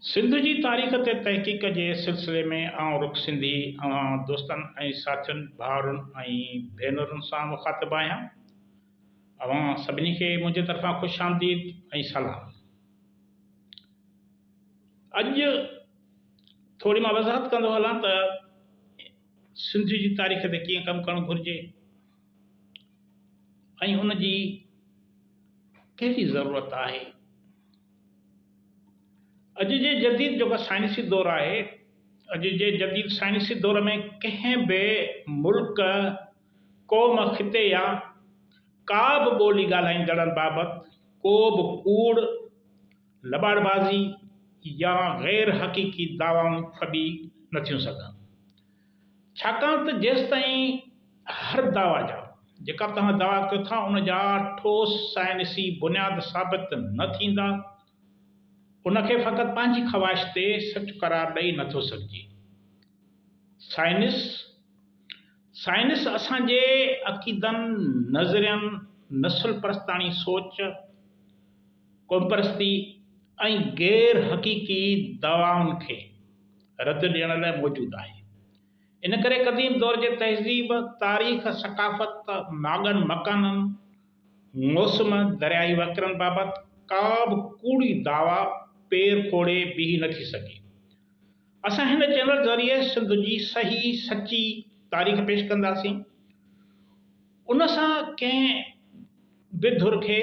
سنڌ جي تاريخ تي تحقيق جي سلسلي ۾ آئون رخ سنڌي اوهان دوستن ۽ ساٿين ڀائرن ۽ ڀينرن سان مخاطب آهيان. اوهان سڀني کي منهنجي طرفان خوش آمديد ۽ سلام. اڄ ٿوري مان وضاحت ڪندو هلان ته سنڌ جي تاريخ تي ڪيئن ڪم ڪرڻ گهرجي ۽ ان جي ڪهڙي ضرورت آهي. اڄ جي جديد جيڪو سائنسي دور آهي اڄ جي جديد سائنسي دور ۾ ڪنهن به ملڪ قوم خطي يا ڪا به ٻولي ڳالهائيندڙن بابت ڪو به ڪوڙ لٻاڙ بازي يا غير حقيقي دعوائون ڦٻي نٿيون سگهن ڇاڪاڻ ته جيستائين هر دعويٰ جا، جيڪا به توهان دعويٰ ڪيو ٿا، ان جا ٺوس سائنسي بنياد ثابت نه ٿيندا، ان کي فقط پنهنجي خواهش تي سچ قرار ڏئي نه ٿو سگهجي. سائنس، سائنس اسان جي عقيدن، نظرين، نسل پرستاڻي سوچ، قومپرستي ۽ غير حقيقي دعوائن کي رد ڏيڻ لاء موجود آهي. ان ڪري قديم دور جي تهذيب، تاريخ، ثقافت، ماڳن مڪانن، موسم، درياهي وهڪرن بابت ڪا به ڪوڙي دعويٰ پير کوڙي بيهي نه ٿي سگهي. اسان هن چينل ذريعي سنڌ جي صحيح سچي تاريخ پيش ڪنداسين. ان سان ڪنهن به ڌر کي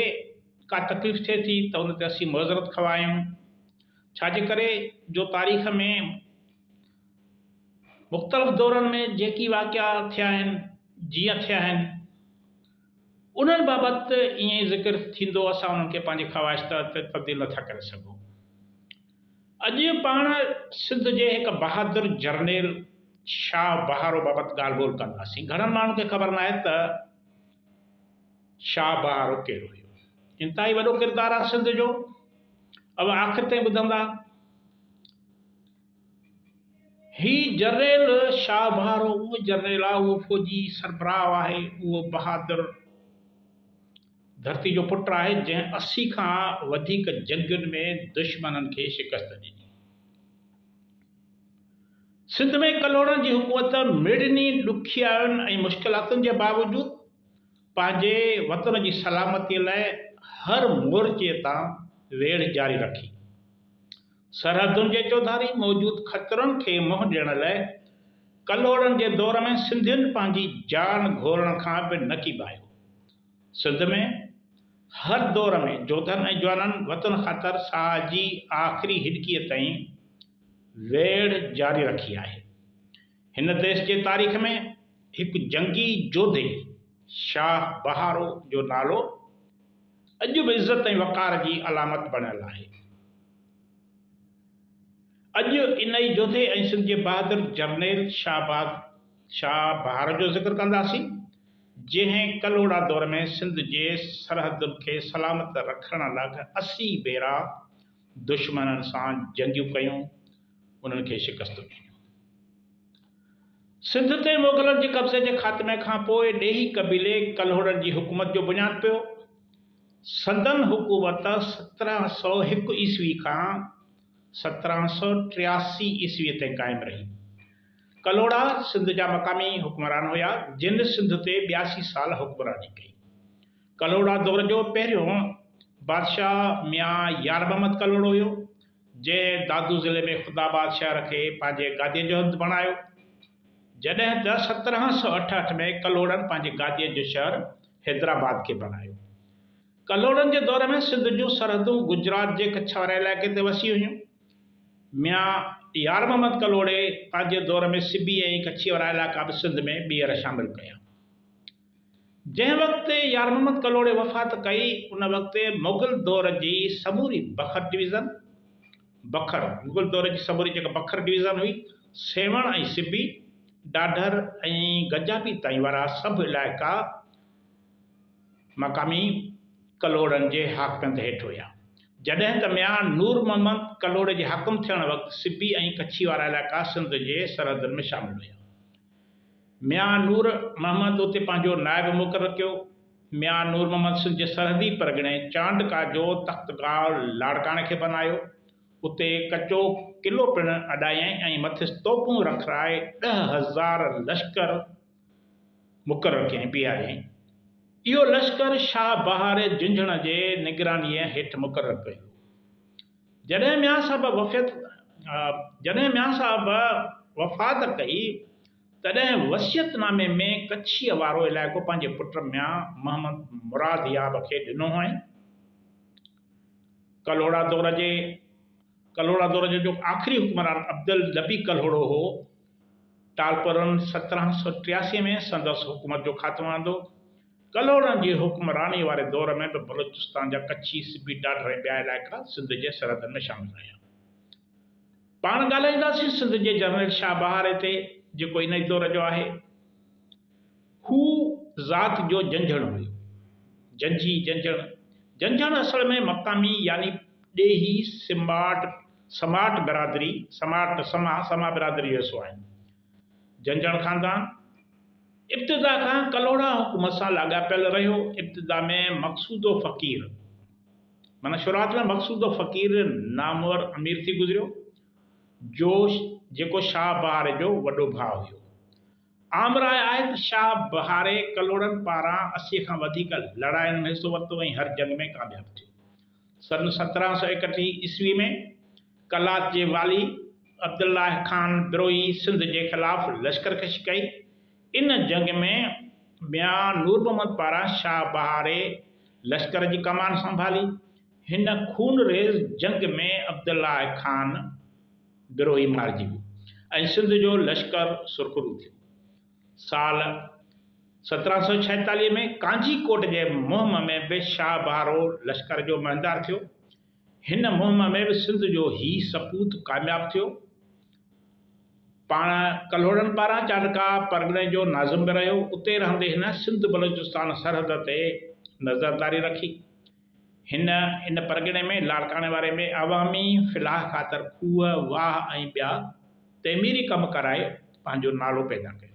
ڪا تڪليف ٿئي ٿي ته ان تي اسين معذرت خواهه آهيون، ڇا جي ڪري جو تاريخ ۾ مختلف دورن ۾ جيڪي واقعا ٿيا آهن، جيئن ٿيا آهن، انهن بابت ائين ئي ذڪر ٿيندو، اسان انهن کي پنهنجي خواهش تحت تبديل نٿا ڪري سگهون. اڄ پاڻ سنڌ جي هڪ بهادر جرنيل شاهه بهارو بابت ڳالهه ٻولهه ڪنداسين. گهڻن ماڻهن کي خبر ناهي ته شاهه بهارو ڪير هيو. انتهائي وڏو ڪردار آهي سنڌ جو. اوهان آخر تائين ٻڌندا. هي جرنيل شاهه بهارو اهو جرنيل آهي، اهو فوجي سربراهه آهي، اهو بهادر ڌرتي جو پٽ آهي جنهن اسي کان وڌيڪ جنگين ۾ دشمنن کي شڪست ڏني. سنڌ ۾ ڪلهوڙن جي حڪومت مڙني ڏکيائين ۽ مشڪلاتن جي باوجود پنهنجي وطن جي سلامتي لاء هر مورچي تان ويڙهه جاري رکي. سرحدن جي چوڌاري موجود خطرن کي منهن ڏيڻ لاء ڪلهوڙن جي دور ۾ سنڌين پنهنجي جان گهورڻ کان به نه ڪيٻايو. سنڌ ۾ هر دور ۾ جوڌن ۽ جوانن وطن خاطر ساهه جي آخري هڏڪيء تائين ويڙهه جاري رکي آهي. هن ديس جي تاريخ ۾ هڪ جنگي جوڌي شاهه بهارو جو نالو اڄ به عزت ۽ وقار جي علامت بڻيل آهي. اڄ انهيء جوڌي ۽ سنڌ جي بهادر جرنيل شاهباز شاهه بهار جو ذڪر ڪنداسين، جنهن ڪلهوڙا دور ۾ سنڌ جي سرحدن کي سلامت رکڻ لاء اسي ڀيرا دشمنن سان جنگيون ڪيون، انهن کي شڪستون ڏنيون. سنڌ تي مغلن جي قبضي جي خاتمي کان پوء ڏيهي قبيلي ڪلهوڙن جي حڪومت جو بنياد پيو. سندن حڪومت سترهن سؤ هڪ عيسوي کان سترهن سؤ ٽياسي عيسوي تائين قائم رهي. ڪلهوڙا سنڌ جا مقامي حڪمران هيا جن سنڌ تي ٻياسي سال حڪمراني ڪئي. ڪلهوڙا دور جو پهريون بادشاهه ميان يار محمد ڪلهوڙو هيو جنهن دادو ضلعي ۾ خود آباد شهر کي پنهنجي گاديء جو هنڌ بڻايو. جڏهن ته سترهن سؤ اٺهٺ ۾ ڪلهوڙن پنهنجي گاديء جو شهر حيدرآباد کي بڻايو. ڪلهوڙن جي دور ۾ سنڌ جون سرحدون گجرات جي ڪڇ واري علائقي تي وسي هيون. ميان يار محمد ڪلهوڙي پنهنجي دور ۾ سبي ۽ ڪڇيء وارا علائقا به سنڌ ۾ ٻيهر شامل ڪيا. جنهن وقت يار محمد ڪلهوڙي وفات ڪئي، ان وقت مغل دور جي سموري بکر ڊويزن، بکر، مغل دور جي سموري جيڪا بکر ڊويزن هئي، سيوهڻ ۽ سبي، ڏاڍر ۽ گجابي تائين وارا سڀ علائقا، مقامي ڪلهوڙن جي حاڪميت هيٺ هيا، جڏهن ته ميان نور محمد ڪلهوڙي جي حاڪم ٿيڻ وقت سبي ۽ ڪڇي وارا علائقا سنڌ جي سرحدن ۾ شامل هيا. ميان نور محمد اتي پنهنجو نائب مقرر ڪيو. ميان نور محمد سنڌ جي سرحدي پرڳڻي چانڊڪا جو تختگاهه لاڙڪاڻي کي بنايو. اتي ڪچو قلعو پڻ اڏايائين ۽ مٿس توپون رکرائي ڏهه هزار لشڪر، مقرر ڪيائين، بيهاريائين. اهو لشڪر شاهه بهار جهنجهڻ جي نگرانيء هيٺ مقرر ڪيو ويو. جڏهن ميان صاحب وفيت جڏهن ميان صاحب وفات ڪئي، تڏهن وصيت نامي ۾ ڪڇيء وارو علائقو پنهنجي پٽ ميان محمد مراد ياب کي ڏنو هئائين. ڪلهوڙا دور جي ڪلهوڙا دور جو جيڪو آخري حڪمران عبدالنبي ڪلهوڙو هو، ٽالپرن سترهن سؤ ٽياسي ۾ سندس حڪومت جو خاتمو آندو. ڪلهوڙن جي حڪمرانيء واري دور ۾ به بلوچستان جا ڪڇي، سبي، ڊاڍر ۽ ٻيا علائقا سنڌ جي سرحدن ۾ شامل رهيا. پاڻ ڳالهائينداسين سنڌ جي جنرل شاهه بهاري تي، جيڪو ان ئي دور جو آهي. هو ذات جو جنجهڻ هيو. جنجهي، جنجهڻ، جنجهڻ اصل ۾ مقامي يعني ڏيهي سماٽ، سماٽ برادري، سماٽ، سما، سما برادري جو حصو آهن. جنجهڻ خاندان ابتدا کان ڪلهوڙا حڪومت سان لاڳاپيل رهيو. ابتدا ۾ مقصودو فقير، معنيٰ شروعات ۾ مقصودو فقير نامور امير ٿي گذريو، جو جيڪو شاهه بهار جو وڏو ڀاء هيو. عام راء آهي ته شاهه بهاري ڪلهوڙن پاران اسيء کان وڌيڪ لڙاين ۾ حصو ورتو ۽ هر جنگ ۾ ڪامياب ٿيو. سن سترهن سؤ ايڪٽيهه عيسوي ۾ قلات جي والي عبدالله خان بروهي سنڌ جي خلاف لشڪر ڪشي ڪئي. ان جنگ ۾ ميان نور محمد پاران شاهه بهاري لشڪر جي ڪمان سنڀالي. هن خونريز جنگ ۾ عبدالله خان. گروهي مارجي ويو ۽ سنڌ جو لشڪر سرخرو ٿيو. سال سترهن سؤ ڇايتاليهه ۾ ڪانجي ڪوٽ جي مهم ۾ به شاهه بهارو لشڪر جو مهندار ٿيو. هن مهم ۾ به سنڌ جو هي سپوت ڪامياب ٿيو. پاڻ ڪلهوڙن پاران چانڊڪا پرڳڻي جو ناظم به رهيو. اتي رهندي هن سنڌ بلوچستان سرحد تي نظرداري رکي. هن ان پرڳڻي ۾ لاڙڪاڻي واري ۾ عوامي فلاح خاطر کوهه، واهه ۽ ٻيا تعميري ڪم ڪرائي پنهنجو نالو پيدا ڪيو.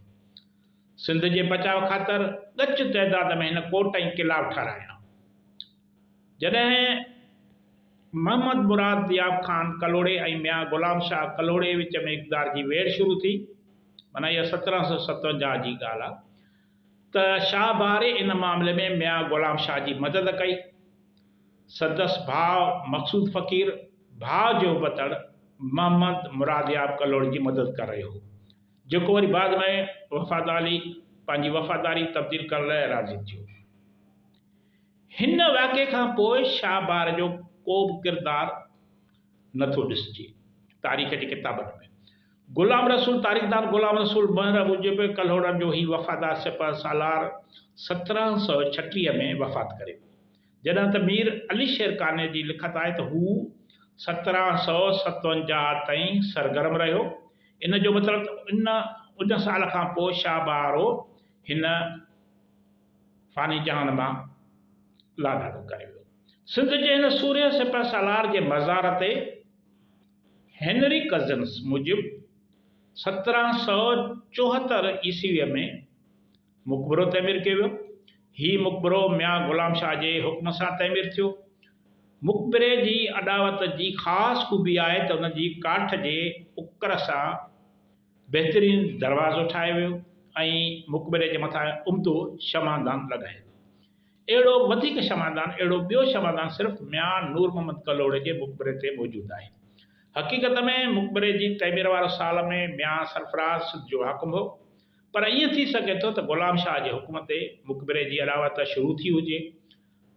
سنڌ جي بچاء خاطر ڳچ تعداد ۾ هن ڪوٽ ۽ قلعا به ٺهرايا. جڏهن محمد مراد دياب خان ڪلهوڙي ۽ ميان غلام شاهه ڪلهوڙي وچ ۾ اقتدار جي ويڙهه شروع ٿي، معنيٰ اها سترهن سؤ ستونجاهه جي ڳالهه آهي، ته شاهه باري ان معاملي ۾ ميان غلام شاهه جي مدد ڪئي. سندس ڀاء مقصود فقير ڀاء جو بتڙ محمد مرادياب ڪلهوڙي جي مدد ڪري رهيو هو، جيڪو وري بعد ۾ وفاداري پنهنجي وفاداري تبديل ڪرڻ لاء راضي ٿيو. هن واقعي کان پوء شاهه باري جو ڪوبه ڪردار. نه ٿو ڏسجي. تاريخ جي ڪتابن ۾، غلام رسول تاريخدان غلام رسول مهر موجب، ڪلهوڙن جو هي وفادار سپهه سالار سترهن سؤ ڇٽيهه ۾ وفات ڪري ويو، جڏهن ته مير علي شير قانع جي لکت آهي ته هو سترهن سؤ ستونجاهه تائين سرگرم رهيو، ان جو مطلب ته ان ان سال کان پوء شاهه بهارو هن. فاني جهان مان لاڏاڻو ڪري ويو. سنڌ جي هن سورهيه سپهه سالار جي مزار تي هينري ڪزنس موجب سترهن سؤ چوهتر عيسويء ۾ مقبرو تعمير ڪيو ويو. هي مقبرو ميان غلام شاهه جي حڪم سان تعمير ٿيو. مقبري جي اڏاوت جي خاص خوبي آهي ته ان جي ڪاٺ جي اڪر سان بهترين دروازو ٺاهيو ويو ۽ مقبري جي مٿان امدو شمعدان لڳايو ويو. اهڙو وڌيڪ شمعدان اهڙو ٻيو شمعدان صرف ميان نور محمد ڪلهوڙي جي مقبري تي موجود آهي. حقيقت ۾ مقبري جي تعمير وارو سال ۾ ميان سرفراز سنڌ جو حاڪم هو پر ائين ٿي سگهي ٿو ته غلام شاهه جي حڪم تي مقبري جي اڏاوت شروع ٿي هجي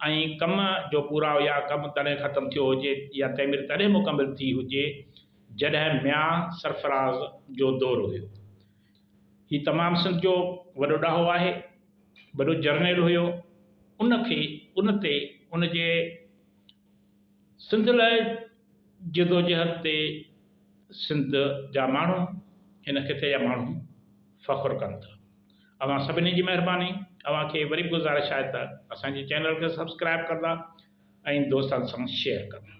۽ ڪم جو پورائو يا ڪم تڏهن ختم ٿيو هجي يا تعمير تڏهن مڪمل ٿي هجي جڏهن ميان سرفراز جو دور هيو. هي تمام سنڌ جو وڏو ڏاهو آهي. وڏو جرنيل هيو. ان کي ان تي ان جي سنڌ لاء جدوجهد تي سنڌ جا ماڻهو هن خطي جا ماڻهو فخر ڪن ٿا. اوهان سڀني جي مهرباني اوهان کي وري به گذارش آهي ته اسان جي چينل کي سبسڪرائب ڪندا ۽ دوستن سان شيئر ڪندا.